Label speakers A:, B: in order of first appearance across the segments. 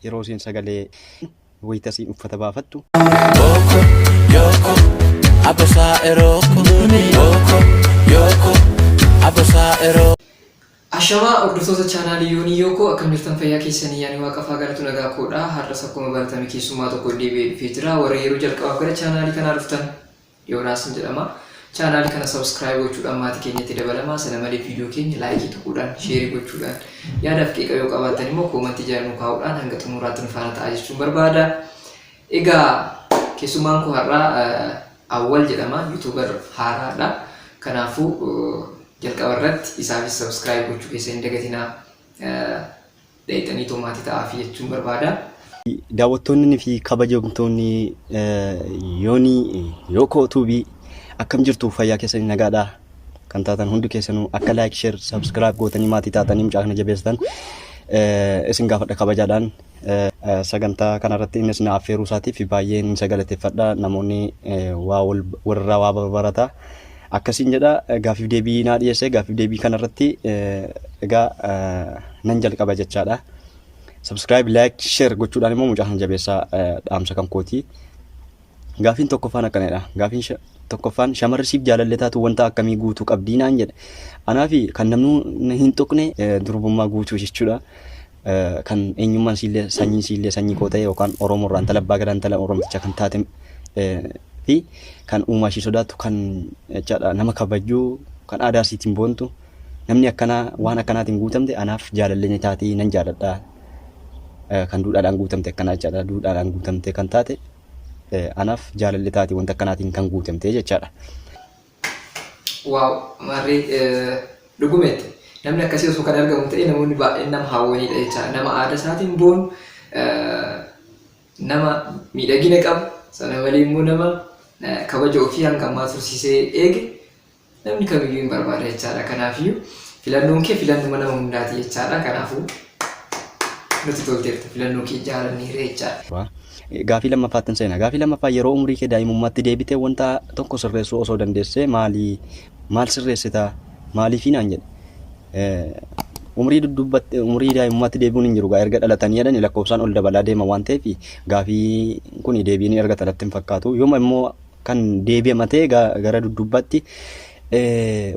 A: yeroo isiin sagalee wayita isiin uffata baafattu. Boko,
B: yoko, abosa eroko. Boko, yoko, abosa eroko. Ashamaa
C: hordoftoota chaanaalii Yoonii Yookoo akkam jirtan fayyaa keessanii yaanii waaqafaa galatu nagaa koodha har'as akkuma baratame keessummaa tokko deebi'ee dhufee jira warri yeroo jalqabaaf gara chaanaalii kanaa dhuftan Yoonaasin jedhama. Channel kana subscribe gochuudhaan maatii keenyatti dabalamaa sana malee video keenya like tuquudhaan share gochuudhaan yaadaaf qeeqa yoo qabaattan immoo comment jala nu kaa'uudhaan hanga xumuraatti nu faana ta'aa jechuun barbaada. Egaa keessummaan koo har'aa Awwal jedhama youtuber haaraadha. Kanaafuu jalqaba irratti isaafis subscribe gochuu keessa hin dagatinaa. Dhayxaniitoo maatii ta'aafi jechuun barbaada. Daawwattoonni
A: fi kabajamtoonni Yoonii Yookoo Tuubii akkam jirtu fayyaa keessanii nagaadha kan taatan hundi keessanuu akka laayik sheer sabskiraayib gootanii maatii taatanii mucaa kana jabeessitan isin gaafadha kabajaadhaan sagantaa kanarratti innis na affeeruu isaatiif baay'een isa galateeffadha namoonni waa walirraa waa barata. Akkasiin jedha gaaffiif deebii naa dhiyeesse gaaffiif deebii kanarratti egaa nan jalqaba jechaadha. Subscribe, like, share gochuudhaan immoo mucaa sana jabeessaa dhaamsa kan kooti. Gaaffiin tokkoffaan akkanadha. Gaaffiin tokkoffaan shamarri siif jaalallee taatu wanta akkamii guutuu qabdii naan jedhe. Anaa fi kan namni hin tuqne durbummaa guutuu jechuudha. kan eenyummaan siillee sanyii siillee sanyii koo ta'e yookaan Oromoo irraa intala abbaa gadaa intala Oromticha kan taate fi kan uumaa ishii sodaattu kan jechaadha nama kabajju kan aadaa isiitiin boontu namni akkanaa waan akkanaatiin guutamte anaaf jaalallee ni taati nan jaaladha kan duudhaadhaan guutamte akkanaa jechaadha duudhaadhaan guutamte kan taate anaaf jaalallee taati wanta akkanaatiin kan guutamte jechaadha.
C: Waaw marri dhugumetti namni akkasii osoo kan argamu ta'e namoonni baay'een nama hawwaniidha jecha nama aada isaatiin boonu nama miidhagina qabu sana malee immoo nama kabaja ofii hanga ammaa tursiisee eege namni kamiyyuu hin barbaada jechaadha kanaafiyyuu filannoon kee filannuma nama hundaati jechaadha kanaafuu Nutti tolteerta filannoo kee jaalanne irreechaa. Gaafii lammaffaattin
A: seena. Gaafii lammaffaa yeroo umurii kee daa'imummaatti deebitee wanta tokko sirreessuu osoo dandeessee maali? Maal sirreessita? Maaliifii naan jedhe. Umurii duddubbatti umurii daa'imummaatti deebi'uun hin jiru gaa erga dhalatanii jedhani lakkoofsaan ol dabalaa deema waan ta'eef gaafii kun deebii ni argata natti hin fakkaatu. Yooma immoo kan deebi'ama ta'e gara dudduubbaatti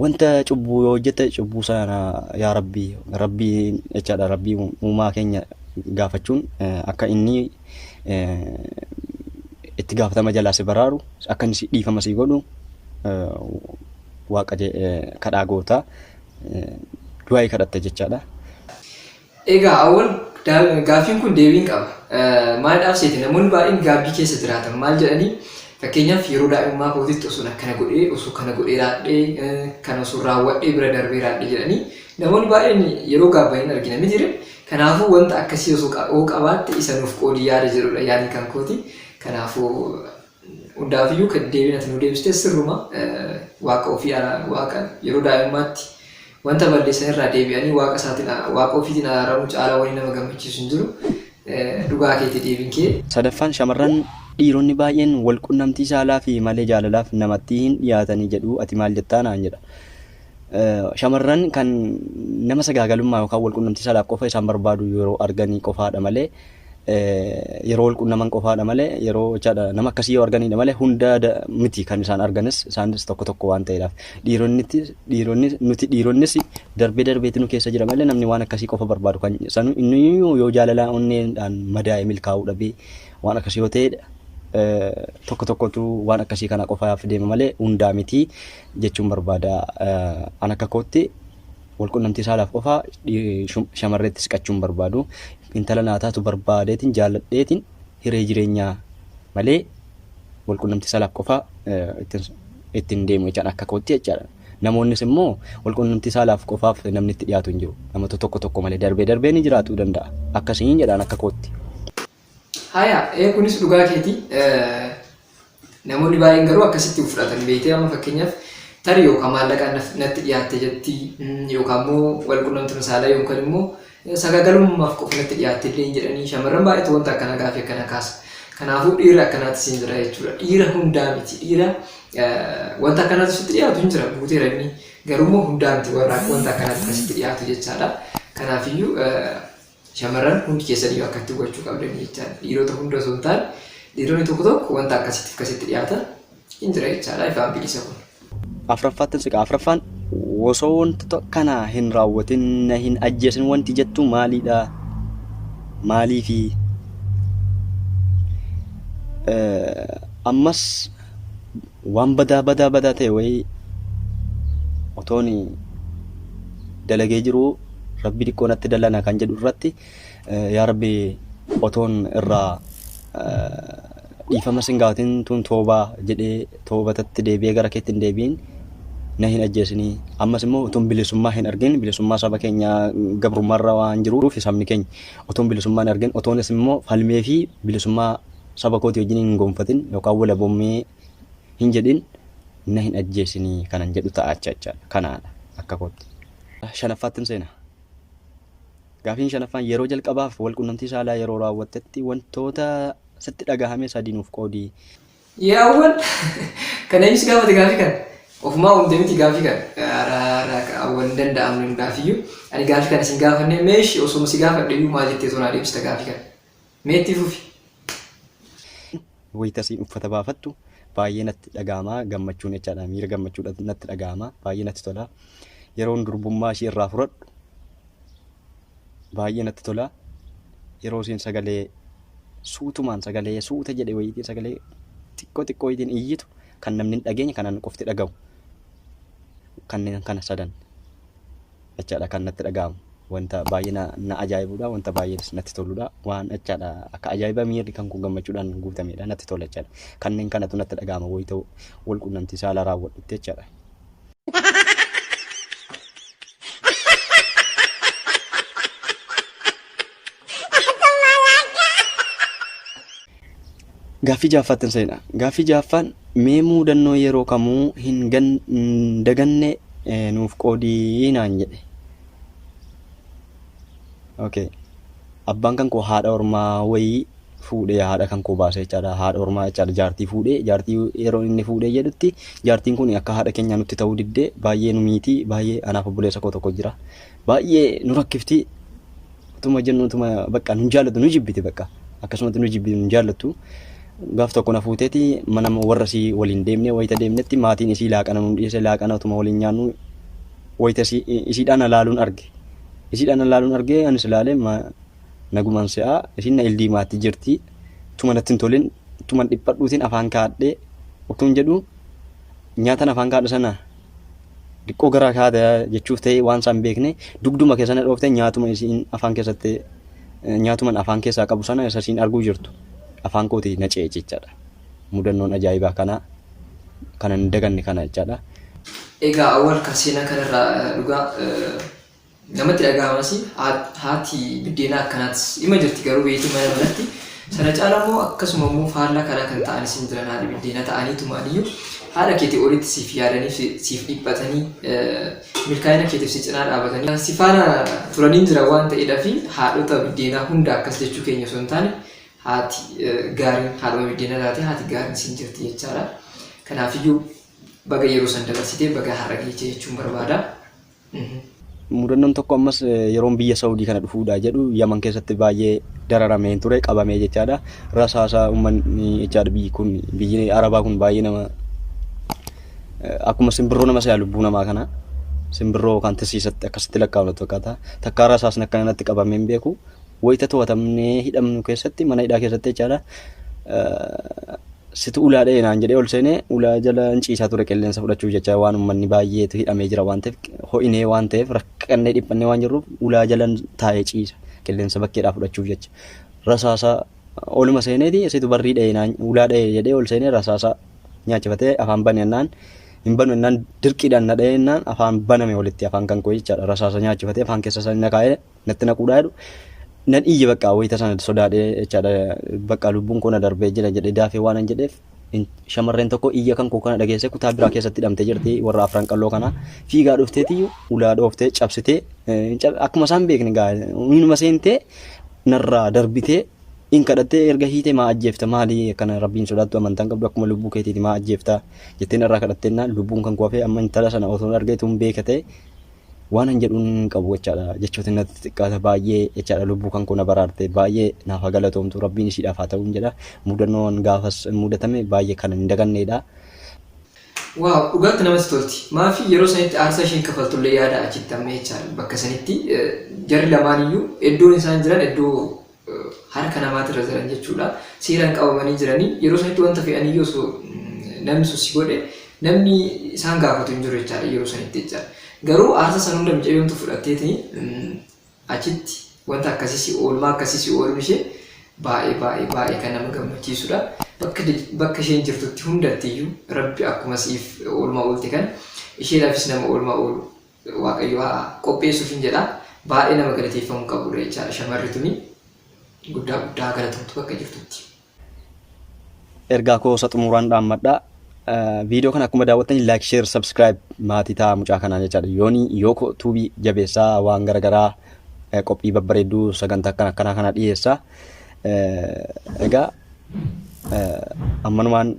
A: wanta cubbuu yoo hojjette cubbuu sana yaa rabbi rabbi jechaadha rabbi uumaa keenya gaafachuun akka inni itti gaafatama jalaa si baraaru akka inni dhiifama si godhu waaqa kadhaa goota du'aa'ii kadhatta jechaadha.
C: Egaa Awol, gaaffiin kun deebiin qaba. Maalidhaaf seete? Namoonni baay'een gaabbii keessa jiraatan maal jedhanii? Fakkeenyaaf yeroo daa'imummaa kootitti osoon akkana godhee, osoo kana godhee raadhee, kana osoo raawwadhee bira darbee raadhee jedhanii namoonni baay'een yeroo gaabban hin argina mitire. Kanaafuu wanta akkasii osoo qabaatte isa nuuf qoodi yaada jedhudha yaadni kan kooti. Kanaafuu Hundaafiyyuu kan deebiin ati nuu deebiste sirruma. Waaqa ofii ara, Waaqa yeroo daa'imummaatti wanta balleessan irraa deebi'anii Waaqa isaatiin Waaqa ofiitiin araaramuu caalaa wani nama gammachiisu hin jiru. Dhugaa keeti deebiin kee. Sadaffaan shamarran
A: dhiironni baay'een wal qunnamtii saalaafi malee jaalalaaf namattii hin dhiyaatanii jedhu ati maal jettaa naan jedha. Shamarran kan nama sagaagalummaa yookaan wal qunnamtii saalaaf qofa isaan barbaadu yeroo arganii qofaadha malee yeroo wal qunnaman qofaadha malee yeroo jechaadha nama akkasii yoo arganidha malee hunda miti kan isaan arganis isaanis tokko tokko waan ta'eedhaaf dhiironnitti dhiironni nuti dhiironnis darbee darbeetti nu keessa jira malee namni waan akkasii qofa barbaadu kan sanu inni yoo jaalalaa onneedhaan madaa'e milkaa'uu dhabee waan akkasii yoo ta'edha tokko tokkotu waan akkasii kana qofaaf deema malee hundaa miti jechuun barbaada an akka kootti Walqunnamtii saalaaf qofaa shamarreetti siqachuu hin barbaadu. Intala naa taatu barbaadeetiin jaalladheetiin hiree jireenyaa malee walqunnamtii saalaaf qofaa ittiin deemu jechaan akka kootti jechaadha. Namoonnis immoo walqunnamtii saalaaf qofaaf namni itti dhiyaatu hin jiru. Namoota tokko tokko malee darbee darbee ni jiraatuu danda'a. Akkasiin jedhaan akka kootti.
C: Haya, ee kunis dhugaa keeti. Namoonni baay'een garuu akkasitti fudhatan beektee amma fakkeenyaaf tarii yookaan maallaqaan natti dhiyaatte jetti yookaan immoo wal qunnamtuma saalaa yookaan immoo sagaagalummaaf qofa natti dhiyaatte illee hin jedhanii shamarran baay'eetu wanta akkana gaafii akkana kaasa. Kanaafuu dhiira akkanaatti siin jira jechuudha. Dhiira hundaa miti. Dhiira wanta akkanaatti sitti dhiyaatu hin jira guuteera inni. Garuu immoo hundaa miti warra wanta akkanaatti kan sitti dhiyaatu jechaadha. Kanaafiyyuu Shamarran hundi keessaniyyuu akkatti hubachuu qabdanii jechaadha. Dhiirota hunda osoo hin taane dhiironni tokko tokko wanta akkasitti akkasitti dhiyaata hin jira jechaadha ifaan bilisa kun. Afraffaattan
A: siqa afraffaan osoo wanti to- kana hin raawwatin na hin ajjeesin wanti jettu maaliidha? Maaliifi? Eh, Ammas Waan badaa badaa badaa ta'e wayii otoon dalagee jiruu rabbi diqqoo natti dallana kan jedhu irratti yaa rabbi otoon irraa dhiifama sin gaafatin tun toobaa jedhee toobatatti deebi'ee gara keetti hin deebiin na hin ajjeesinii ammas immoo otoon bilisummaa hin argin bilisummaa saba keenya gabrummaarra waan jiruuf sabni keenya otoon bilisummaa hin argin otoonis immoo falmee fi bilisummaa Saba kootii wajjin hin gonfatin yookaan walabommii hin jedhin na hin ajjeesinii kanan jedhu ta'a jechaadha. Kanaadha akka kootti. Shanaffaattin seena. Gaafiin shanaffaan yeroo jalqabaaf walqunnamtii saalaa yeroo raawwattetti wantoota sitti dhagahame sadii nuuf qoodi. Yaa awwal
C: kan eenyu si gaafate gaafii kana? Ofumaa uumte miti gaafii kana. Ara ara ka awwal hin danda'amne dhugaafiyyu. Ani gaafii kana sin gaafanne meeshi osuma si gaafadhe iyyuu maa jettee too naa deebista gaafii kana. Mee itti fufi.
A: wayita isiin uffata baafattu baay'ee natti dhaga'ama gammachuun jechaadha miira gammachuudha natti dhaga'ama baay'ee natti tola yeroon durbummaa ishii irraa fudhadhu baay'ee natti tola yeroo isiin sagalee suutumaan sagalee suuta jedhe wayiitiin sagalee xiqqoo xiqqoo wayiitiin iyyitu kan namni hin dhageenye kanan qofti dhaga'u kanneen kana sadan jechaadha kan natti dhaga'amu. Wanta baay'ee na, na ajaa'ibuudha, wanta baay'ee natti toluudha. Waan jechaadha akka ajaa'iba miirri kan kun gammachuudhaan guutameedha, natti tola jechaadha. Kanneen kanatu natti dhaga'ama wayita wal qunnamtii saalaa raawwadhutti jechaadha. Gaaffii jahaffaattin seena. Gaaffii jahaffaan mee muudannoo yeroo kamuu hin gan- hin daganne eh, nuuf qoodii naan jedhe. Okay. Abbaan kan koo haadha ormaa wayii fuudhee haadha kan koo baasee jechaadha. Haadha ormaa jechaadha jaartii fuudhee jaartii yeroo inni fuudhee jedhutti jaartiin kun akka haadha keenyaa nutti ta'uu diddee baay'ee nu miitii baay'ee anaaf obboleessa koo tokko jira. Baay'ee nu rakkifti utuma jennu utuma bakka nu hin jaallatu nu jibbiti bakka akkasumatti nu jibbiti nu hin jaallattu gaaf tokko na fuuteeti mana warra isii waliin deemnee wayita deemnetti maatiin isii laaqana nu dhiyeesse laaqana utuma waliin nyaannu wayita isii isiidhaan na laaluun arge isiidhaan na laaluun arge anis ilaalee ma- nagumaan se'aa isiin na ildiimaatti jirti utuma natti hin tolin utuma dhiphadhuutiin afaan kaadhee utuun jedhu nyaatan afaan kaadhe sana diqqoo gara kaata jechuuf ta'e waan isaan beekne dugduma keessana dhoofte nyaatuma isiin afaan keessatti nyaatuman afaan keessaa qabu sana isa isiin arguu jirtu afaan kooti na ce'e jechaadha. Mudannoon ajaa'ibaa kana kanan daganne kana jechaadha. Egaa
C: awwal ka seenaa kanarraa dhugaa Namatti dhagahamasi haati biddeenaa akkanaatis ima jirti garuu beetii mana manatti sana caala immoo akkasuma immoo faallaa kanaa kan ta'an isin jiran haadha biddeena ta'anii tumaaniyyuu haadha keetii olitti siif yaadanii siif dhiphatanii milkaa'ina keetiif si cinaa dhaabatanii si faana turanii jira waan ta'eedhaa fi haadhota biddeenaa hunda akkas jechuu keenya osoo hin taane haati gaariin haadhuma biddeena taate haati gaariin isin jirti jechaadha. Kanaafiyyuu baga yeroo san dabarsitee baga har'a geechee jechuun barbaada.
A: Mudannoon tokko ammas yeroon biyya Saawudii kana dhufuudha jedhu Yaman keessatti baay'ee dararamee hin ture qabamee jechaadha. Rasaasa uummanni jechaadha biyyi kun biyyi Arabaa kun baay'ee nama akkuma simbirroo nama se'a lubbuu namaa kana simbirroo yookaan tisiisatti akkasitti lakkaa'amnu fakkaata. Takkaa rasaasni akka kanatti qabamee hin beeku. Wayita to'atamnee hidhamnu keessatti mana hidhaa keessatti jechaadha. Situ ulaa dha'e naan jedhee ol seenee ulaa jala hin ciisaa ture qilleensa fudhachuuf jecha waan uummanni baay'eetu hidhamee jira waan ta'eef ho'inee waan ta'eef rakkannee dhiphannee waan jirruuf ulaa jala taa'ee ciisa qilleensa bakkeedhaa fudhachuuf jecha rasaasa oluma seeneeti situ barrii dha'e naan ulaa dha'e jedhee ol seenee rasaasa nyaachifatee afaan bane ennaan hin banu ennaan dirqiidhaan na dha'e ennaan afaan baname walitti afaan kan koo jechaadha rasaasa nyaachifatee afaan keessa isaa na kaa'ee natti naquudha jedhu nan iyye bakka wayita sana sodaadhe jechaadha bakka lubbuun koo na darbee jira jedhe daafee waan hin jedheef in- shamarreen tokko iyya kan koo kana dhageesse kutaa biraa keessatti hidhamtee jirti warra afran qalloo kana fiigaa dhufteetiyyuu ulaa dhooftee cabsitee eh, hin cab- akkuma isaan beekne gaa inuma seentee narraa darbitee in kadhattee erga hiitee maa ajjeefta maali akkana rabbiin sodaattu amantaan qabdu akkuma lubbuu keetiiti maa ajjeefta jettee narraa kadhattee naan lubbuun kan koo hafee amma intala sana osoo hin argeetu hin beekatee waan an jedhuun hin qabu jechaadha jechootiin natti xiqqaata baay'ee jechaadha lubbuu kan koo na baraarte baay'ee naaf haa galatoomtu rabbiin ishiidhaaf haa ta'uun jedha mudannoon gaafas mudatame baay'ee kan hin daganneedha.
C: Waaw dhugaatti namatti tolti maafi yeroo sanitti aarsaa isheen kafaltullee yaada achitti amma jechaadha bakka sanitti jarri lamaaniyyuu iddoon isaan jiran iddoo harka namaatirra jiran jechuudha. Seeraan qabamanii jiranii yeroo sanitti wanta fe'aniyyuu osoo namni sun si godhe namni isaan gaafatu hin jiru jechaadha yeroo sanitti jecha. Garuu aarsa san hunda mucayyoomtu fudhatteeti achitti wanta akkasii si oolmaa akkasii si ooluun ishee baay'ee baay'ee baay'ee kan nama gammachiisudha. Bakka bakka isheen jirtutti hundattiyyuu rabbi akkuma siif oolmaa oolte kan isheedhaafis nama oolmaa oolu waaqayyo haa qopheessuufin jedha baay'ee nama galateeffamu qabudha jechaadha shamarri tuni guddaa guddaa galatomtu bakka jirtutti.
A: ergaa koo isa xumuraan dhaammadha. Viidiyoo kana akkuma daawwattanii like, share, subscribe maatii ta'a mucaa kanaa jechaadha. Yooni yooko tuubii jabeessaa waan garaagaraa qophii babbareedduu sagantaa akkana akkanaa kana dhiyeessa. Egaa ammanumaan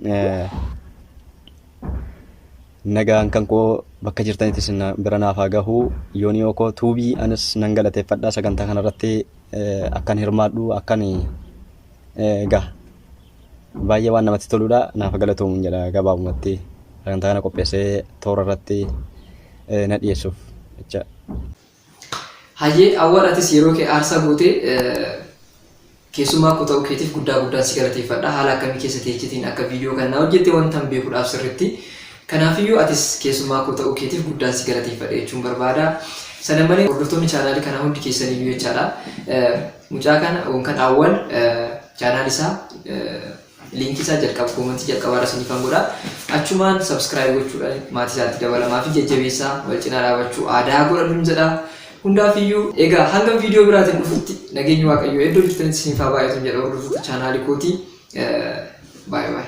A: Nagaan kan koo bakka jirtanitti isin bira naaf haa gahu. Yooniyoo koo tuubii anis nan galateeffadha sagantaa kanarratti akkan hirmaadhu akkan egaa baay'ee waan namatti toludha naaf galatoomuun jedha gabaabumatti sagantaa kana qopheessee toora irratti na dhiyeessuuf jecha.
C: Hayyee Awwal atis yeroo kee aarsaa gootee keessummaa koo ta'uu keetiif guddaa guddaan si galateeffadha. Haala akkamii keessa teechetiin akka viidiyoo kana naa hojjette wantan beekuudhaaf sirritti. Kanaafiyyuu atis keessummaa koo ta'uu keetiif guddaan si galateeffadha jechuun barbaada. Sana malee hordoftoonni chaanaalii kanaa hundi keessaniyyuu jechaadha. Mucaa kana yookaan Awwal chaanaal isaa Link isaa jalqaba comment jalqabaa irra sinifan godha. Achumaan subscribe gochuudhaan maatii isaatti dabalamaa fi jajjabeessaa wal cinaa dhaabachuu aadaa godhadhun jedha. Hundaafiyyuu egaa hanga viidiyoo biraatiin dhufutti nageenyi waaqayyoo iddoo jirtanitti isiniif haa baay'atun jedha hordoftoota chaanaalii kootii. Baay baay.